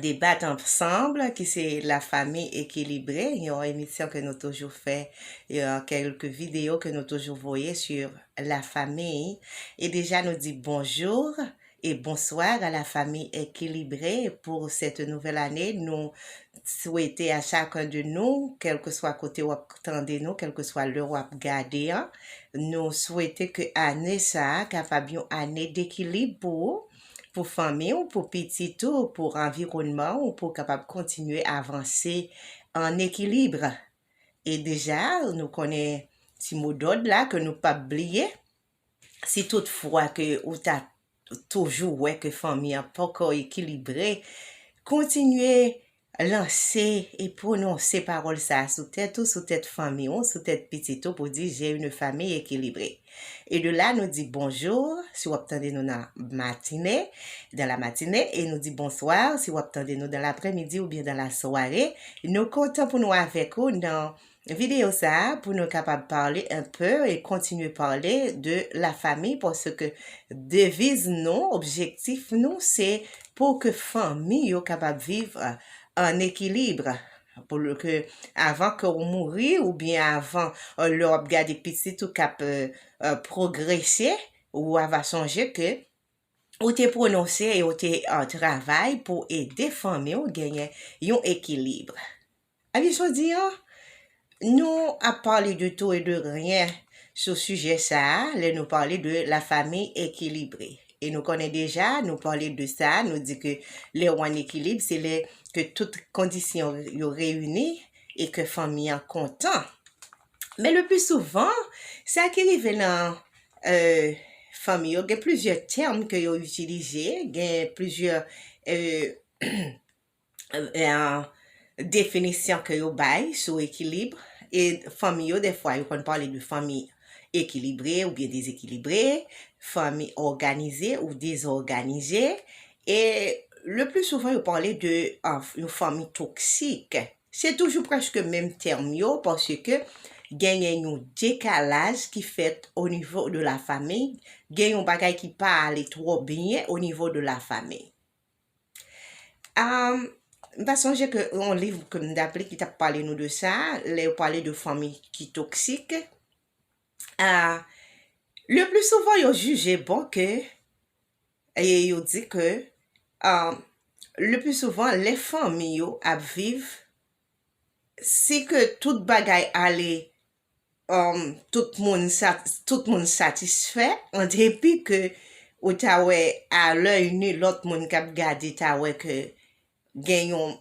Debat Ensemble ki se La Famille Equilibrée, yon emisyon ke nou toujou fè, kèlk videyo ke nou toujou voye sur la famille. E deja nou di bonjour et bonsoir à la famille Equilibrée pour cette nouvelle année. Nou swete a chacun de nou, kèlkeswa kote ou ap tande nou, kèlkeswa lè ou ap gade an, nou swete ke ane sa kapab yon ane d'equilibre pou ou, pou fanmi w, pou pitit ou, pou anviwònman w pou w kapab kontinye avanse an ekilib. E deja nou konnen ti mo dòd la ke nou pap bliye, si tout fwa ke ou ta toujou wè ke fanmi an poko ekilibre, kontinye Lanse e pwononse pawòl sa a sou tèt ou, sou tèt fanmi ou, sou tèt pitit ou pou di J'ai une famille équilibrée. E de la nou di bonjour si w ap tande nou nan matine, dans la matinée, e nou di bonsoir si w ap tande nou dans l'après-midi oubyen dans la soirée. Nou kontan pou nou avèk ou nan Video sa pou nou kapab parle un peu e kontinye parle de la famille paske deviz nou, objektif nou se pou ke fanmi yo kapab viv an ekilibre pou ke avan ke ou mouri ou byen avan lè wap gade pitit ou kap progrese ou ava sonje ke ou te prononse e ou te travay pou ede fanmi ou genyen yon ekilibre. Ane jodi an, nou ap pale de tou e de ryen sou sijè sa a lè nou pale de lafami ekilibre. E nou konnen deja, nou pale de sa, nou di ke lè ou an ekilib, se lè ke tout kondisyon yo reyini e ke fanmi an kontan. Men le pli souvan, sa ki rive nan fanmi yo, gen plizyè tèm ke yo itilize, gen plizyè definisyon ke yo bay sou ekilib, e fanmi yo defwa yo konn pale de fanmi ekilibre oubyen dezekilibre, fanmi òganize ou dezòganize, e le pli souvan yo pale de yon fanmi toksik. Se toujou preske menm tèm yo paske genyen yon dekalaj ki fèt o nivo de la famiy, gen yon bagay ki pa ale twò byen o nivo de la famiy. Am, m ta sonje ke yon liv ke m tap li ki tap pale nou de sa, lè yo pale de fanmi ki toksik, a, le pli souvan yo jije bon ke, e yo di ke, a, le pli souvan lè fanmi yo ap viv, si ke tout bagay ale tout moun satisfè an depi ke ou ta wè a lèy nu lòt moun k ap gade ta wè ke gen yon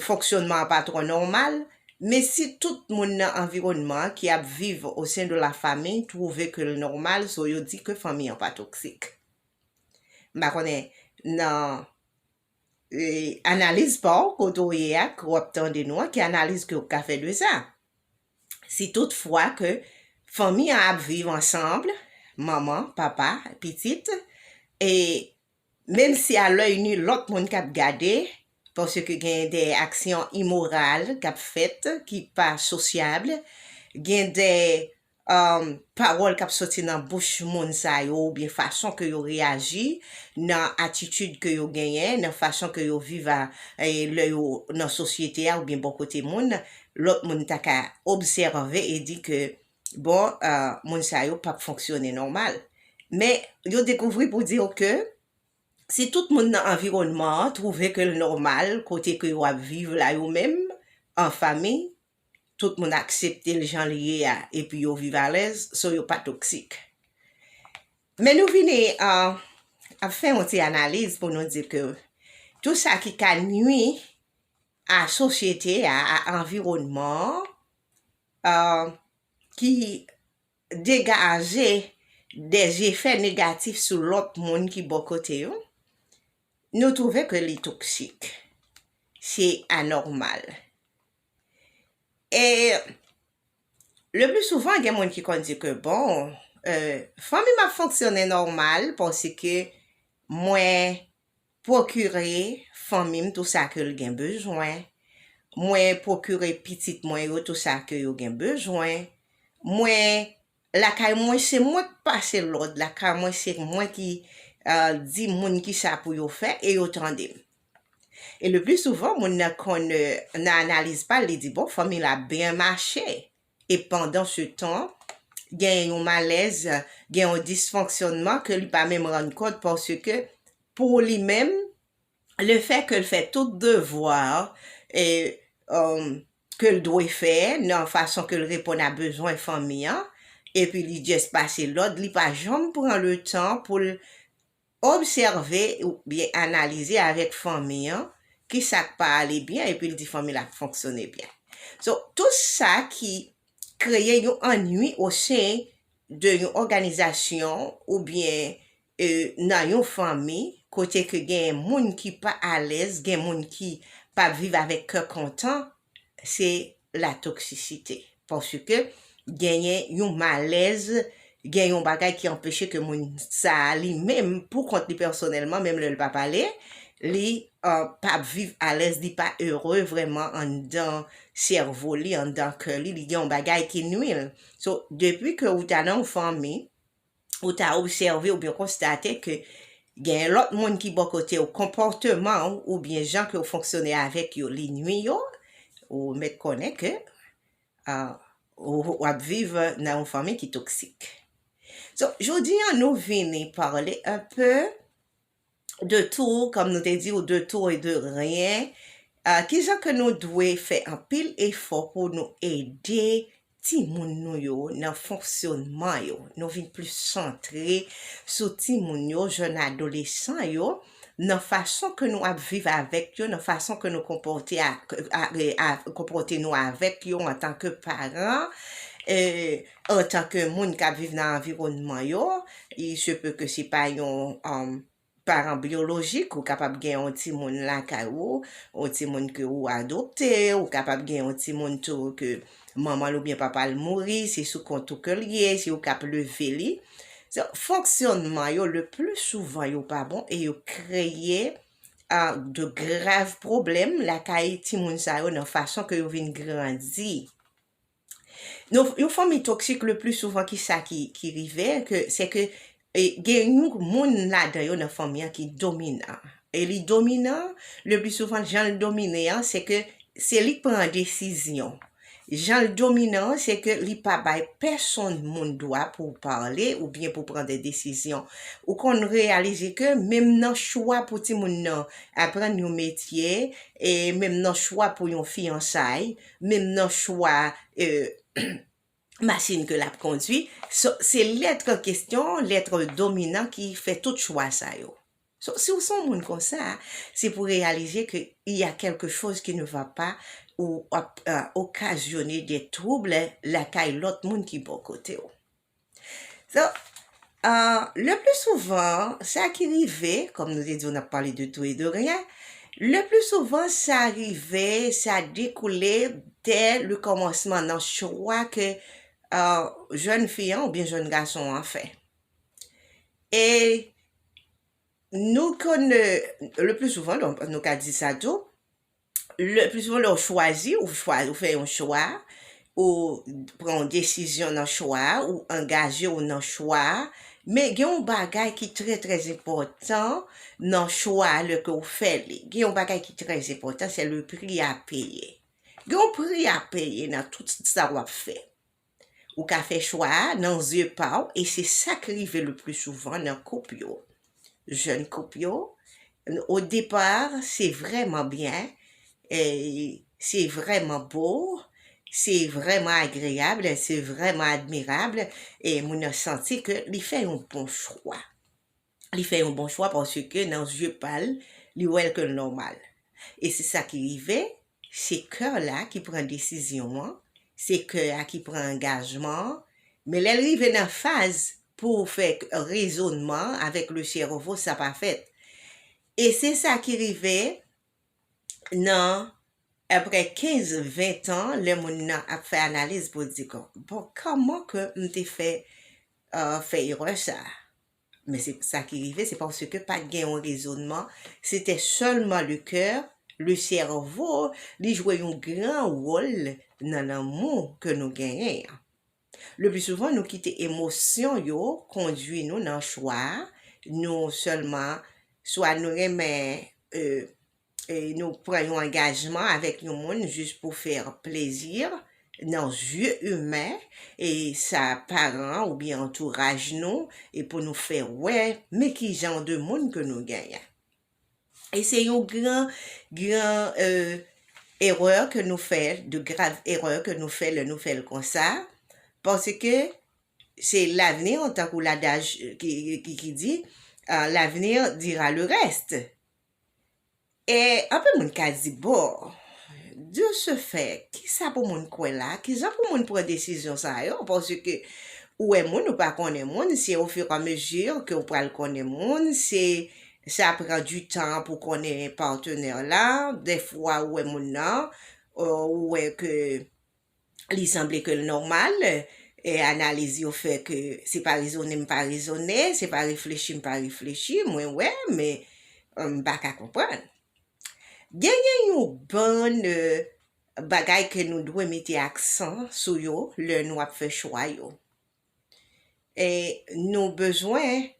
fonksyònman an pa twò nòmal men si tout moun nan anviwònman an ki ap viv o sen de la fami twouve ke l nòmal so yo di ke fanmi an pa toksik m pa konnen nan. Analiz pa w kote w ye a ke w ap tande nou an ki analiz ke w ka fè de sa? Si tout fwa ke fanmi an ap viv ansanbl, manman, papa, pitit, e menm si a lòy nu lòt moun k ap gade paske gen de aksyon imoral k ap fèt ki pa sosyabl, gen de pawòl k ap soti nan bouch moun sa yo oubyen fason ke yo reyaji, nan atitid ke yo genyen, nan fason ke yo viv a lè yo nan sosyete a oubyen bò kote moun, lòt moun ta ka obsève e di ke bon moun sa yo p ap fonksyone nòmal. Men yo dekouvri pou di w ke si tout moun nan anviwònman an twouve ke l nòmal kote ke yo ap viv la yo menm an famiy, tout moun aksepte l jan l ye a epi yo viv alèz, so yo pa toksik. Men nou vini ap fè yon ti analiz pou nou di ke tou sa ki ka nui a sosyete a, a anviwònman an, ki degaje de jefè negatif sou lòt moun ki bò kote yo, nou twouve ke li toksik. Se anòmal. E le pli souvan gen moun ki konn di ke bon, fanmi m ap fonksyone nòmal paske mwen pwokire fanmi m tou sa ke l gen bezwen, mwen pwokire pitit mwen yo tou sa ke yo gen bezwen, mwen Lakay mwen se mwen k pase lòd lakay mwen se mwen ki Di moun kisa pou yo fè e yo tande m e le pli souvan moun nan konn nan analiz pal li di bon fanmi la ap byen mache e pandan se tan genyen yon malèz gen yon disfonksyònman ke li pa menm rann kont paske pou li menm le fè ke l fè tout devwa ke l dwe fè nan fason ke l reponn a bezwen fanmi an, epi li just pase lòd, li pa janm pran le tan pou l obsève oubyen analize avèk fanmi an ki sa k pa ale byen epi l di fanmi l ap fonksyone byen. So, tout sa ki kreye yon annui osen de yon òganizasyon oubyen E nan yon fanmi kote ke gen moun ki pa alèz, gen moun ki pa ap viv avèk kè kontan, se la toksisite. Paske genyen yon malèz, gen yon bagay ki anpeche ke moun sa a li menm pou kont li pèsonèlman, menm lè l pa pale, li pa ap viv alèz, li pa ere vrèman anndan sèvo li, anndan kè li, li gen yon bagay ki nwi l. So, depi ke ou ta nan yon fanmi, ou ta obsève oubyen konstate ke genyen lòt moun ki bò kote w konpòteman w oubyen jan ke w fonksyone avèk yo li nwi yo, ou mèt konnen ke ou ap viv nan yon fanmi ki toksik. So, jodi an nou vini pale anpe. de tou, kòm nou te di ou de tou e de ryen, ki jan ke nou dwe fè anpil efò pou nou ede timoun nou yo nan fonksyonman yo, nou vin plis santre sou timoun yo, jèn adolesan yo, nan fason ke nou ap viv avèk yo, nan fason ke nou konpòte ak, konpòte nou avèk yo antan ke paran, e. antan ke moun kap viv nan anviwònman yo, il se peut ke se pa yon paran byolojik, ou kapab gen yon timoun lakay ou, yon timoun ke ou adopte, ou kapab gen yon timoun tou ke manman l oubyen papa l mouri, se sou kont ou ke l ye, se ou kap leve li. So, fonksyònman yo le pli souvan yo pa bon e yo kreye de grav pwoblèm lakay timoun sa yo nan fason ke yo vin grandi. Yon fanmi toksik le pli souvan ki sa ki rive ke se ke gen yon moun ladan yo nan fanmi an ki dominan e li dominan le pli souvan jan l domine an se ke se li k pran desizyon jan l dominan an se ke li pa bay pèsonn moun dwa pou pale ou byen pou pran de desizyon ou konn reyalize ke menm nan chwa pou timoun nan aprann yon metye e menm nan chwa pou yon fiyansay menm nan chwa machin ke l ap kondwi. So, se lèt an kesyon, lèt dominan ki fè tout chwa sa yo. So, si w se yon moun konsa, se pou w reyalize ke il y a quelque chose qui ne va pas ou ap okazyone de trouble lakay lòt moun ki bò kote w. Donk, leplisouvan, sa ki rive, kòm nou te di w n ap pale de tou e de ryen, leplisouvan sa rive, sa dekoule dè lekòmansman nan chwa ke jèn fi an oubyen jèn gason an fè. E nou konnen, leplisouvan, nou ka di sa tou, Le plis souvan lè ou chwazi, ou chwa, ou fè yon chwa, ou pran yon desizyon nan chwa a, ou angaje ou nan chwa a, men gen yon bagay ki trè trè enpòtan nan chwa a lè ke ou fè li. Gen yon bagay ki trè enpòtan, se le pri a peye. Gen yon pri a peye nan tout sa w ap fè. Ou ka fè chwa a nan zye pa w e se sa k rive le pli souvan nan koup yo. Jèn koup yo, o depa se vrèman byen, se vrèman bo, se vrèman agreyab, se vrèman admirab e moun nan santi ke li fè yon bon chwa. li fè yon bon chwa paske nan zye pa l, li wè l ke l nòmal. E se sa ki rive, se kè la ki pran desizyon an, se kè a ki pran angajman an, men lè l rive nan faz pou w fè rezonman an avèk le sèvo sa pa fèt. E se sa ki rive nan aprè 15, 20 tan lè moun nan ap fè analiz pou l di kon, bon kòman ke m te fè fè erè sa a? Men se sa ki rive, se paske pa t gen yon rezonman, se te sèlman le coeur, le cerveau, li jwe yon gran wòl nan lanmou ke nou genyen an. Le pli souvan nou kite emosyon yo kondwi nou nan chwa, nou sèlman swa nou renmen nou pran yon angajman avèk yon moun jis pou fè plezi nan zye imen e sa paran oubyen antouraj nou e pou nou fè wè men ki jan de moun ke nou genyen. E se yon gran, gran erè ke nou fè, de grav erè ke nou fè lè nou fè l konsa, paske se lavni tankou ladaj ki di, l'avenir dira le reste. E anpil moun ka di, bon, de se fè, ki sa pou moun kwè la, ki jan pou moun pran desizyon sa yo, paske ou wè moun, ou pa konnen moun, se o fur et a mesure ke ou pral konnen moun, se sa pran du tan pou konnen partenaire la, dè fwa ou wè moun nan, ou wè ke. Li sanble ke l nòmal, e analiz yo fè ke se pa rezone m pa rezone, se pa reflechi m pa reflechi, mwen wè, men m pa ka konprann. Genyen yon bann bagay ke nou dwe mete aksan sou yo lè nou ap fè chwa yo. E nou bezwen.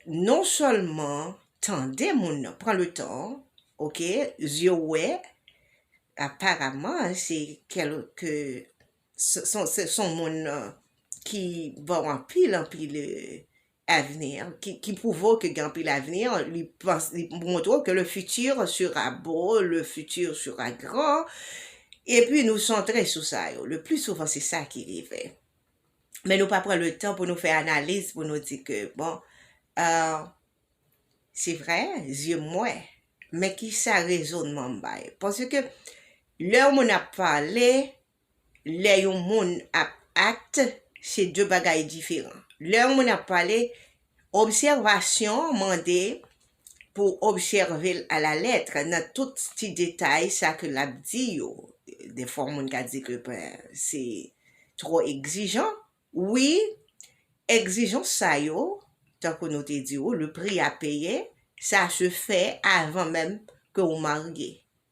non sèlman tande moun nan pran le tan ok zye w wè aparaman se kèlke se son moun ki ba w anpil anpil avni ki pwouve w ke gen anpil avni li montre w ke le futur sera beau le futur sera grand epi nou santre sou sa yo le pli souvan se sa ki rive men nou pa pran le tan pou nou fè analiz pou nou di ke bon euh, se vre, zye m wè, men ki sa rezonman m bay. Paske lè yon moun ap pale, lè yon moun ap act, se de bagay diferan. Lè yon moun ap pale, Obsèvasyon an mande pou w obsève l alalettre nan tout ti detay sa ke l ap di yo. Dèfwa moun ka di ke ben se twò egzijan. Wi, egzijans sa yo, tankou nou te di ou, le prix à payer, sa se fè avan menm ke ou marye.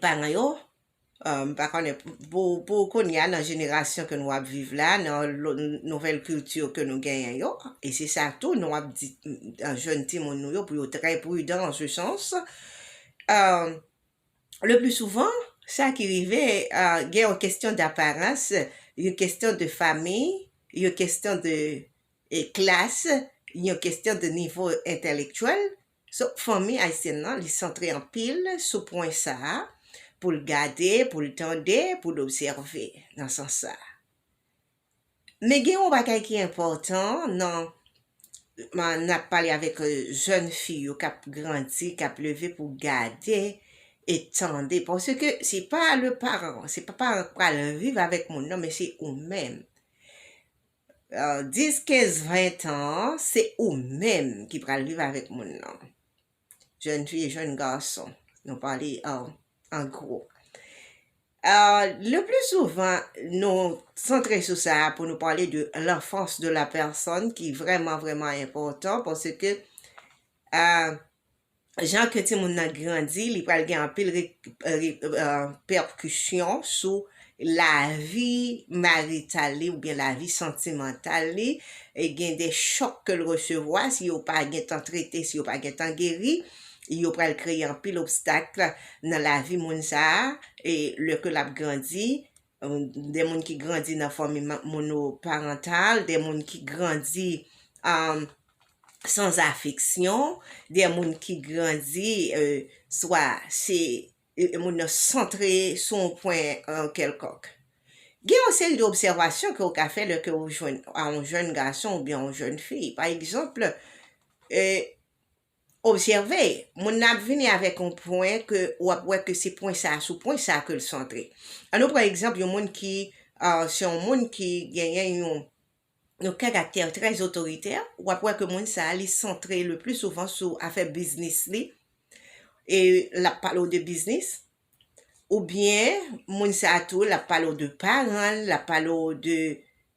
paran yo, m pa konnen pou kounye a nan jenerasyon ke nou ap viv la, nan nouvèl kilti ke nou genyen yo, e se sa tou nou ap di jèn timoun nou yo pou yo trè pridan an se sans, le pli souvan, sa ki rive, gen yon kestyon daparans, yon kestyon de fami, yon kestyon de klas, yon kestyon de nivo entèlektyèl, So, fanmi ayisyèn nan, li santre anpil sou pwen sa a, pou l gade, pou l tande, pou l obsève, nan sans sa a. Men gen yon bagay ki enpòtan nan n ap pale avèk jèn fi yo k ap grandi, k ap leve pou gade e tande, paske se pa le paran, se pa paran k pral viv avèk moun nan, men se ou menm. 10, 15, 20 tan an, se ou menm ki pral viv avèk moun nan. Jèn fi, jèn gason, nou pale an gwo. Le pli souvan, nou santre sou sa a pou nou pale de lanfans de la pèsòn ki vrèman vrèman enpòtan paske jan ke timoun nan grandi li pral gen anpil repercussion sou lavi marital li oubyen lavi santimantal li, gen de chòk ke l resevwa si yo pa gen tan trete, si yo pa gen tan geri, yo pral kreye anpil obstacle nan lavi moun sa a, e lè ke l ap grandi, de moun ki grandi nan fanmi monoparantal, de moun ki grandi san afeksyon, de moun ki grandi swa se moun nan santre sou yon pwen kèlkonk. Gen yon seri de obsèvasyon ke ou ka fè lè ke ou jwenn yon jèn gason oubyen yon jèn fi. Pa egzanp, Obsève, moun nan ap vini avèk yon pwen ke ou ap wè ke se pwen sa a, sou pwen sa a ke l santre. An nou pran egzanp yon moun ki se yon moun ki genyen yon yon karaktè trè otoritè, ou ap wè ke moun sa a li santre le pli souvan sou afè biznis li e l ap pale w de biznis oubyen moun sa a tou l ap pale w de paran l, l ap pale w de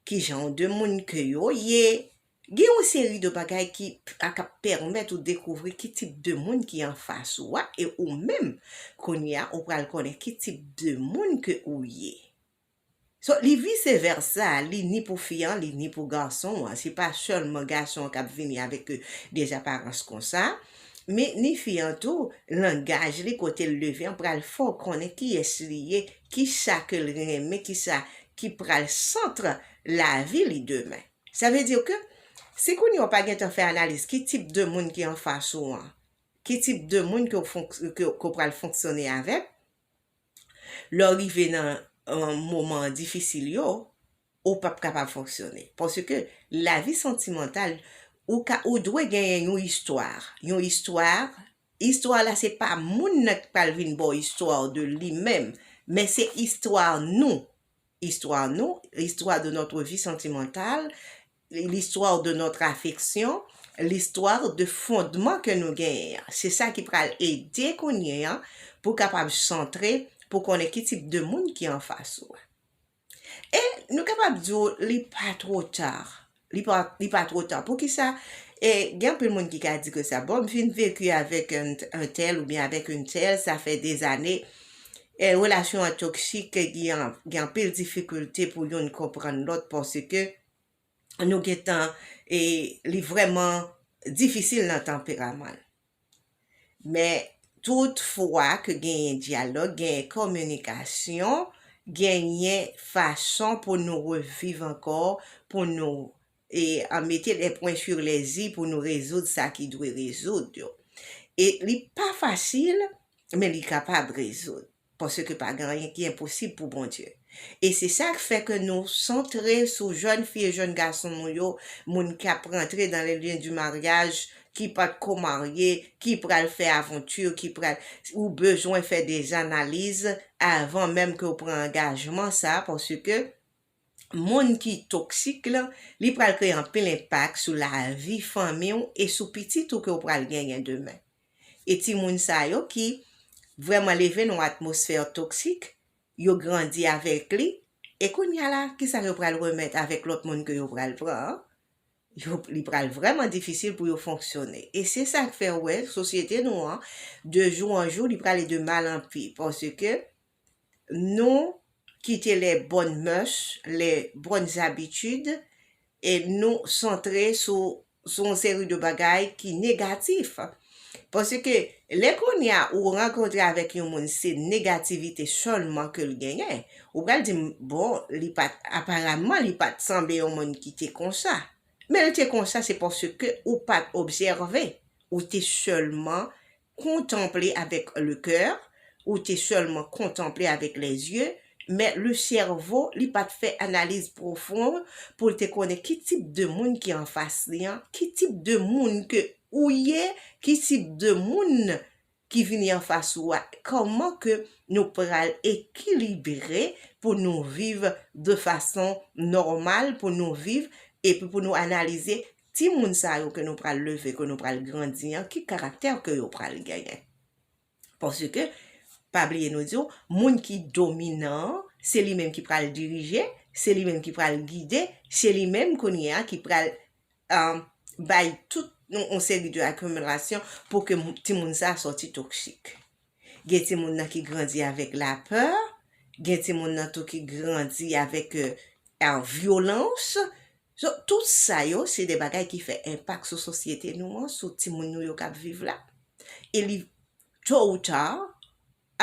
kijan de moun ke yo ye, Gen yon seri de bagay ki ka kap pèmèt ou dekouvri ki tip de moun ki anfas ou a e ou menm kounye a ou pral konnen ki tip de moun ke ou ye. So li vise vèsa, li ni pou fi an li ni pou gason an, se pa sèlman gason an kap vini avèk des aparans konsa, men ni fi an tou, langaj li, kotel leve an pral fè w konnen kiyès li ye, kisa ke l renmen, kisa ki pral centre lavi li demen. Sa vle dire ke si kounye a ou pa gentan fè analiz ki tip de moun ki anfas ou an, ki tip de moun ke ou pral fonksyone avèk, lè ou rive nan moman difisil yo, ou pap kapab fonksyone. Paske lavi santimantal, ou dwe genyen yon istwa, yon istwa, istwa la se pa moun nan ki pral vin ba w istwa w de li menm, men se istwa nou. Histoire nou, l'histoire de notre vie sentimentale, l'histoire de notre affection, l'histoire de fondman ke nou genyen an. Se sa ki pral ede kounye an pou kapab santre pou konnen ki tip de moun ki anfas ou a. E nou kapab di w li pa two tar Li pa two ta. Poukisa e gen anpil moun ki ka di ke sa bon m fin veku avek un tel oubyen avek une telle sa fe 2 ane e relasyon an toksik ke gen anpil difikilte pou youn konprann lot paske nou gen tan e li vreman difisil nan tanperaman l. Men, tout fwa ke genyen dyalòg, genyen kominikasyon, genyen fason pou nou reviv ankò, pou nou e mete lè pwen sur lè i, pou nou rezoud sa ki dwe rezoud yo. E li pa fasil, men li kapab rezoud. paske pa gen anyen ki enposib pou Bondye. E se sa k fè ke nou santre sou jèn fi e jèn gason nou yo, moun ki ap rantre dan le lien du mariage, ki pa t ko marye, ki pral fè aventure, ki pral, ou bezwen fè des analyses avan menm ke ou pran angajman sa, paske moun ki toksik lan, li pral kreye anpil enpak sou lavi fanmi w e sou pitit ou ke w pral genyen demen. E timoun sa yo ki vrèman leve nan yon atmosfè toksik, yo grandi avèk li, e kounya la, kisa yo pral remèt avèk lòt moun ke yo pral pran an? Yo, li pral vrèman difisil pou yo fonksyone. E se sa k fè ou wè sosyete nou an, de jou an jou, li prale de mal an pi, paske, Nou kite les bonnes mœurs, les bonnes habitudes e nou santre sou sou yon seri de bagay ki negatif. Paske lè kounye a ou rankontre avèk yon moun se negativite sèlman ke l genyen, ou pral di m bon li pa t aparamman li pa t sanble yon moun ki te konsa. Men l te konsa se paske ou pa t obsève, ou te sèlman Contemple avec le coeur, ou te sèlman kontanple avèk lèzye, men le sèvo li pat fè analiz pwofon pou l te konnen ki tip de moun ki anfas li an, ki tip de moun ke ou ye, ki tip de moun ki vini anfas ou a, kòman ke nou pral ekilibre pou nou viv de fason nòmal, pou nou viv epi pou nou analize Timoun sa yo ke nou pral leve, ke nou pral grandi an, ki karaktè ke yo pral genyen? Paske, pa bliye nou di w, moun ki dominan an, se li menm ki pral dirije, se li menm ki pral gide, se li menm kounye a ki pral bay tout yon seri de akimilasyon pou ke timoun sa a sòti toksik. Gen timoun nan ki grandi avèk lapè, gen timoun nan tou ki grandi avèk vyolans. So, tout sa yo se de bagay ki fè enpak sou sosyete nou an, sou timoun nou yo k ap viv la. E li to ou ta,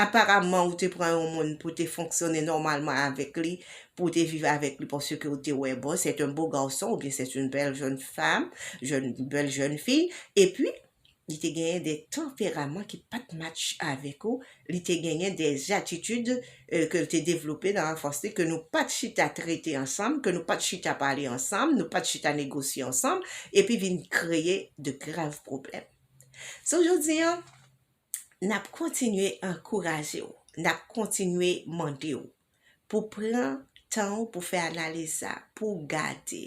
aparamman ou te pran yon moun pou te fonksyone nòmalman avèk li, pou te viv avèk li paske ou te wè bon, sèt an bo garson oubyen sèt an bèl jèn fanm, jèn, bèl jèn fi, epi, li te genyen de tanperaman ki pa t match avèk ou, li te genyen de atitid ke l te devlope nan anfans li ke nou pa t chita trete ansanm, ke nou pa t chita pale ansanm, nou pa t chita negosye ansanm, epi vin kreye de grav pwoblèm. So jodi an, n ap kontinye ankouraje w, n ap kontinye mande w pou pran tan w pou fè analiz sa, pou w gade.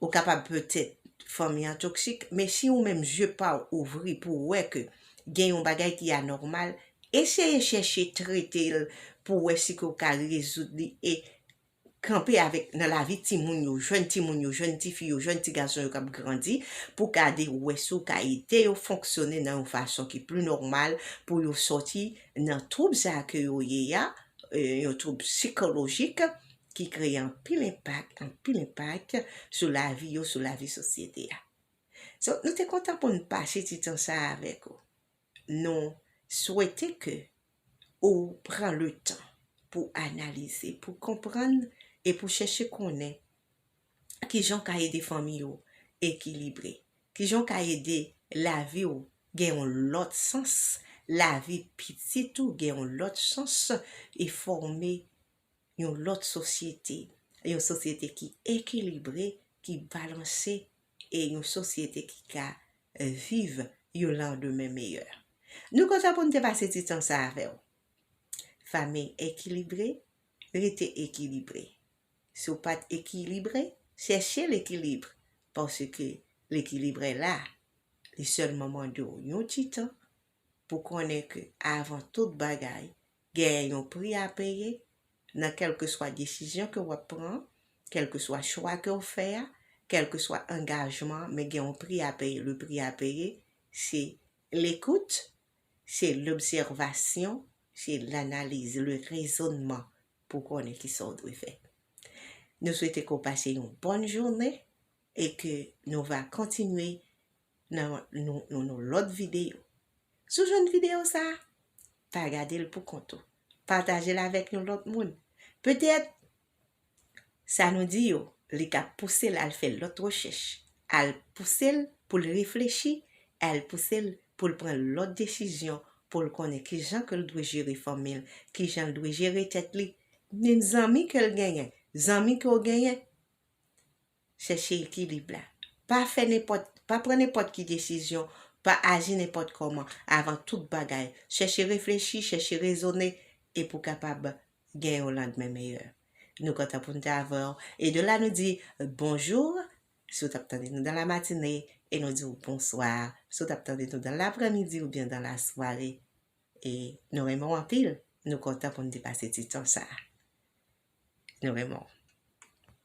Ou kapab petèt fanmi an toksik, men si ou menm zye pa w ouvri pou w wè ke gen yon bagay ki anòmal, eseye chèche trete l pou w wè si ke w ka rezoud li e kanpe avèk nan lavi timoun yo, jèn timoun yo, jèn tifi yo, jèn ti gason yo k ap grandi pou gade wè si w ka ede yo fonksyone nan yon fason ki pli nòmal pou yo sòti nan twoub sa ke yo ye a, yon twoub sikolojik ki kreye anpil enpak, anpil enpak sou lavi yo, sou lavi sosyete a. So, nou te kontan pou n pase ti tan sa a avèk ou. Nou swete ke ou pran le tan pou w analize, pou w konprann e pou w chèche konnen ki jan w ka ede fanmi ou ekilibre, ki jan w ka ede lavi ou gen yon lòt sans, lavi pitit ou gen yon lòt sans e fòme yon lòt sosyete, yon sosyete ki ekilibre, ki balanse e yon sosyete ki ka viv yon landemen meyè. Nou kontan pou n te pase ti tan sa avè w. Fanmiy ekilibre, rete ekilibre. Si w pa t ekilibre, chèche lekilib paske lekilibre la, li sèlman mande w yon ti tan pou konnen ke avan tout bagay, Genyen yon pri a peye nan kèlkeswa desizyon ke wap pran, kèlkeswa chwa ke w fè a, kèlkeswa angajman, men gen yon pri a peye, le prix à payer se lekout, se lobsèvasyon, se lanaliz, le rezonnman pou konnen kisa w dwe fè. Nou swete ke w pase yon bòn jounen. E ke nou va kontinye nan nou lòt videyo. Si w jwenn videyo sa, pa gade l pou kont ou. Pataje l avèk yon lòt moun. Petèt, sa nou di yo, li ka pouse l al fè lòt rechèch, al pouse l pou l reflechi, al pouse l pou l pran lòt desizyon, pou l konnen ki jan ke l dwe jere fanmi l, ki jan l dwe jere tèt li, menm zanmi ke l genyen, zanmi ke w genyen, Chèche ekilib la. Pa fè nenpòt, pa pran nenpòt ki desizyon, pa aji nenpòt kòman, avan tout bagay, chèche reflechi, chèche rezone, e pou kapab gen yon landmen meyè. Nou kontan pou n te avè w, e de la nou di bonjour si w t ap tande nou dan la matine, e nou di w bonsoir si w t ap tande nou dan lapremidi oubyen dan la sware. E nou renmen w anpil, nou kontan pou n te pase ti tan sa a. Nou renmen w.